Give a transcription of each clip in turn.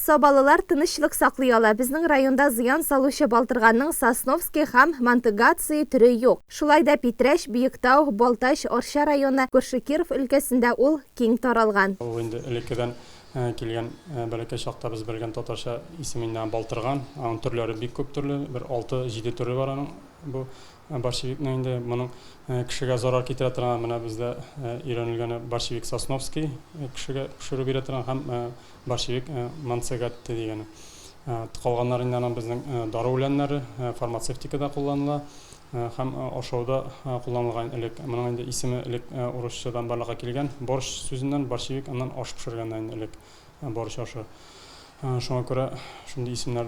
Сабалылар тынычлык саклый ала. Безнең районда зыян салучы балтырганның Сосновский һәм Монтыгаций төре юк. Шулай да Питрәч, Биектау, Балтач, Арча районы, күрше Киров өлкәсендә ул киң таралган. Ул инде элеккедән килгән, бәләкәй чактабыз белгән татарча исеме инде аңа балтырган. Аның төрләре бик күп төрле, бер алты-җиде төре бар аның бу. Борщевикның инде моның кешегә зарар китерә торган, менә бездә өйрәнелгәне борщевик Сосновский кешегә пешерү бирә торган һәм борщевик Манцегатте дигәне. Калганнары инде аның безнең дару үләннәре, фармацевтикада кулланыла һәм ашауда кулланылган элек. Моның инде исеме элек урысчадан барлыкка килгән, борщ сүзеннән, борщевик аннан аш пешергәннән элек. бар чашы. Шуңа күрә шундый исемнәр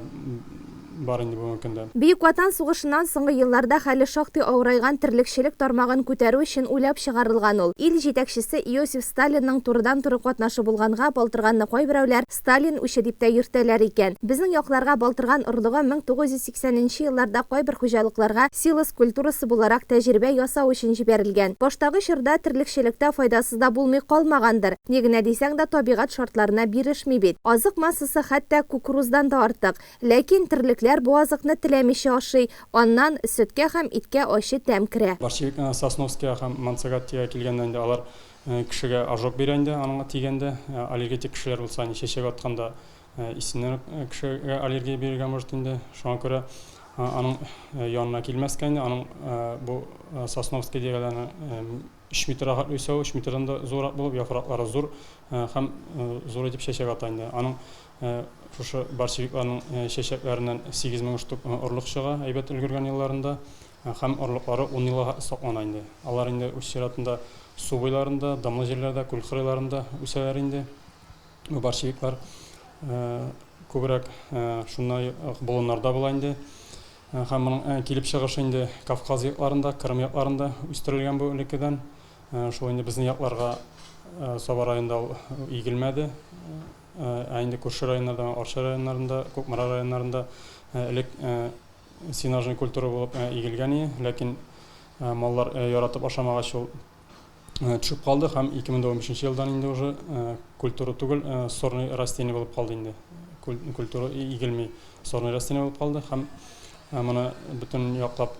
бар инде бүгенге көндә. Бөек Ватан сугышыннан соңгы елларда хәле шактый авырайган терлекчелек тармагын күтәрү өчен уйлап чыгарылган ул. Ил җитәкчесе Иосиф Сталинның турыдан-туры катнашы булганга, Балтырганны кайберәүләр Сталин үче дип тә йөртәләр икән. Безнең якларга Балтырган орлыгы 1900. Сәненче елларда кайбер хуҗалыкларга силос культурасы буларак тәҗрибә ясау өчен җибәрелгән. Баштагы чорда терлекчелектә файдасы да булмый калмагандыр. Ни генә дисәң дә, табигать шартларына бирешми бит. Азык массасы хәтта кукуруздан да артык. Ләкин терлекләр бу азыкны теләмичә ашый. Аннан сөткә һәм иткә ачы тәм керә. Борщевик Сосновскига һәм Монсерратига килгәндә инде алар кешегә ожог бирә инде, аңа тигәндә. Аллергетик кешеләр булса, чәчәк атканда, Исеннән кешегә аллергия бирергә может инде. Шуңа күрә аның янына килмәскә инде. Аның бу Сосновский дигәләре 3 метр рахат үсә, 3 метрдан да зуррак булып, яфраклары зур һәм зур итеп чәчәк ата инде. Аның шушы борщевикларның чәчәкләреннән 8000 штук орлык чыга, әйбәт өлгергән елларында. Һәм орлыклары 10 елга саклана инде. Алар инде үз чиратында су буйларында, дымлы җирләрдә, күл кырыйларында үсәләр инде. борщевиклар күбрәк шундай болыннарда була инде. Һәм моның килеп чыгышы инде Кавказ якларында, Кырым якларында үстерелгән бу элеккедән. Шул инде безнең якларга Саба районында игелмәде. Ә инде күрше районнарда, Арча районнарында, Кукмара районнарында элек сенажный культура булып игелгән иде, ләкин маллар яратып ашамагач ул төшеп калды һәм 2015 елдан инде уже культура түгел, сорный растение булып калды инде. Культура игелми, сорный растение булып калды һәм моны бөтен яклап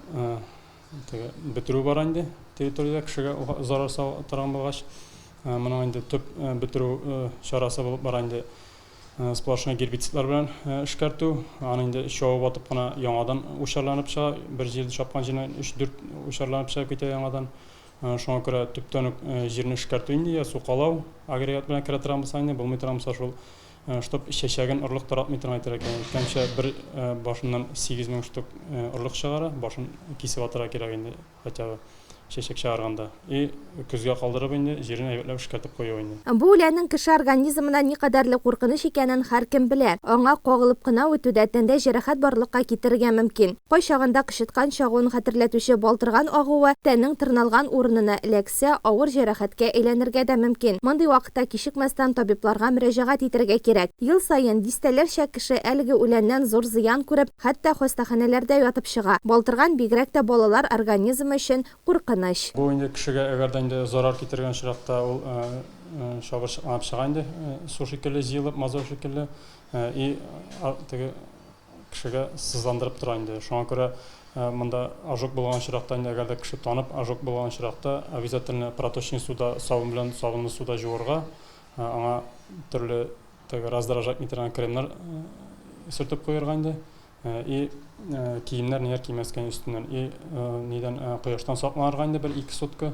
бетерү бар инде территориядә кешегә зарар сала торган булгач, моның инде төп бетерү чарасы булып бара инде сплошной гербицидлар белән эшкәртү, аны инде чавып атып кына яңадан учарланып чыга, бер җирдә чапкан җиреннән 3-4 учарланып чыгып китә яңадан. Шуңа күрә төптән үк җирне эшкәртү инде я сукалау агрегат белән керә торабыз аны, булмый торабыз шул штук чәчәген орлык таратмый торган итәргә кирәк. Әйткәнчә, бер башыннан 8000 штук орлык чыгара, башын кисеп атырга кирәк инде, хотя бы чәчәк чыгарганда. И көзгә калдырып инде җирен әйбәтләп эшкәртеп кую инде. Бу үләннең кеше организмына никадәрле куркыныч икәнен һәркем белә. Аңа кагылып кына үтү дә тәндә җәрәхәт барлыкка китерергә мөмкин. Кайчагында кычыткан чагуын хәтерләтүче балтырган агуы тәннең тырналган урынына эләксә, авыр җәрәхәткә әйләнергә дә мөмкин. Мондый вакытта кичекмәстән табибларга мөрәҗәгать итәргә кирәк. Ел саен дистәләрчә кеше әлеге үләннән зур зыян күреп, хәтта хастаханәләрдә ятып чыга. Балтырган бигрәк тә балалар организмы өчен Куркыныч. Бу инде кешегә әгәр дә инде зарар китергән очракта ул чабыр чыкланып чыга инде су шикелле җыелып мазут шикелле и теге кешегә сызландырып тора инде шуңа күрә монда ожог булган очракта инде әгәр дә кеше танып ожог булган очракта обязательно проточный суда сабын белән сабынлы суда җуырга аңа төрле теге раздражать итәргән кремнар сөртеп куерга инде Э, и э, киемнәр ниләр кимәскән өстеннән и э, нидән кояштан сакланырга инде бер ике сутка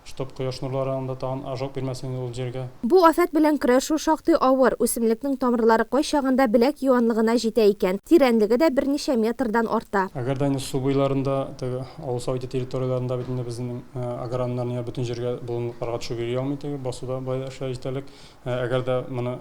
чтоб кояш нурлары анда тагын ожог бирмәсен инде ул җиргә Бу афәт белән көрәшү шактый авыр, үсемлекнең тамырлары кайчагында беләк юанлыгына җитә икән, тирәнлеге дә берничә метрдан арта. Әгәр дә инде су буйларында, теге авыл совете территорияләрендә бит инде безнең аграрнар ниләр бөтен җиргә болынлыкларга төшеп йөри алмый, теге басуда бая эшләр җитәрлек. Әгәр дә моны